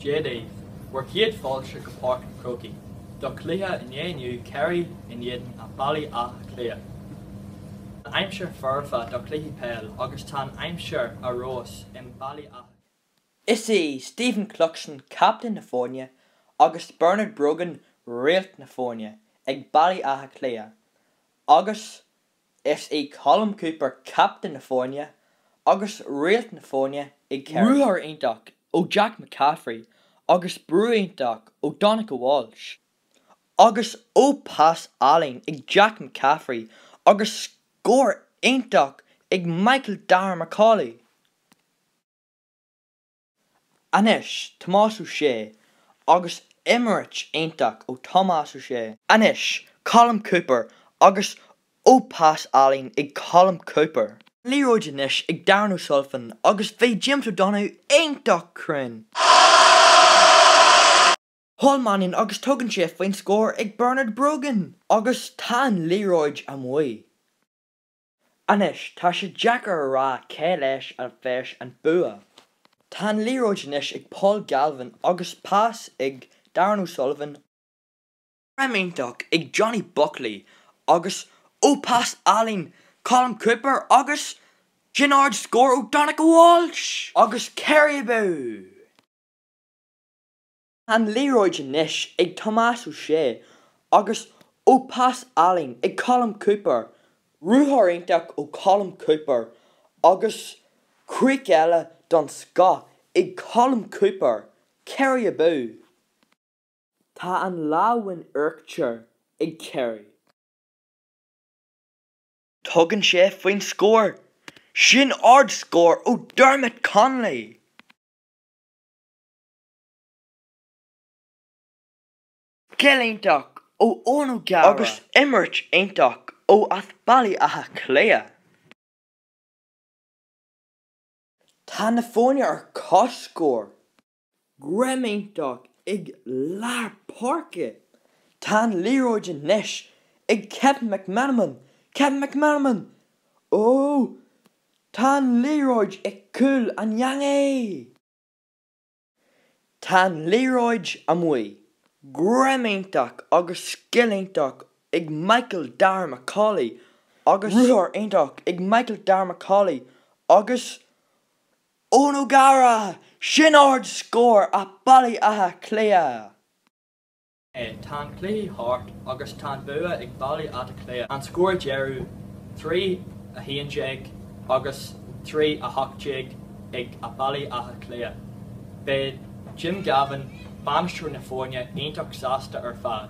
Dia daoibh! Bhur chéad fáilte go Páirc an Chrócaigh do chluiche an lae inniu Kerry in éadan an Bhaile Átha Cliath. Tá an aimsir foirfe do chluiche peil agus tá an aimsir arais i mBaile Átha Cliath. Is é Stephen Cluxton captaen na foirne agus Bernard Brogan réalt na foirne ag Baile Átha Cliath agus Is é Colm Cooper captaen na foirne agus réalt na foirne ag Kerry. Ruathar iontach ó Jack McCaffrey agus brú iontach ó Donncha Walsh. Agus ó pas álainn ag Jack McCaffrey agus scór iontach ag Michael Darragh Macauley. Anois, Tomás Ó Sé, agus imirt iontach ó Thomás Ó Sé. Anois, Colm Cooper, agus ó pas álainn ag Colm Cooper. Liathróid anois ag Darren O'Sullivan, agus bhí James O'Donoghue iontach cruinn. Paul Mannion, agus tugann sé faoin scór ag Bernard Brogan, agus tá an liathróid amuigh. Anois, tá sé deacair a rá cé leis a bheas an bua. Tá an liathróid anois ag Paul Galvin agus pas ag Darren O'Sullivan, greim iontach ag Johnny Buckley agus ó pas álainn Colm Cooper agus sin ard scór ó Donncha Walsh agus Kerry abú! An liathróid anois ag Tomás Ó Sé agus ó pas álainn ag Colm Cooper, ruathar iontach ó Colm Cooper agus críoch eile don scoth ag Colm Cooper, Kerry abú! Tá an lámh in uachtar ag Kerry. Tugann sé faoin scór. Sin ard scór ó Dermot Connolly! Scil iontach ó Eoghan O'Gara. Agus imirt iontach ó as Baile Átha Cliath. Tá na foirne ar comhscór. Greim iontach ag lár páirce. Tá an liathróid anois ag Kevin McManamon, Kevin McManamon! Ó! Tá an liathróid i cúl an eangaí! Tá an liathróid amuigh. Greim iontach agus scil iontach ag Michael Darragh McCauley agus ruathar iontach ag Michael Darragh McCauley agus Eoghan O'Gara! Sin ard scór a'Baile Átha Cliath! Tá an cluiche thart agus tá an bua ag Baile Átha Cliath. An scór deiridh, trí, a haon déag agus trí, a hocht déag ag Baile Átha Cliath. Beidh Jim Gavin, bainisteoir na foirne, iontach sásta ar fad.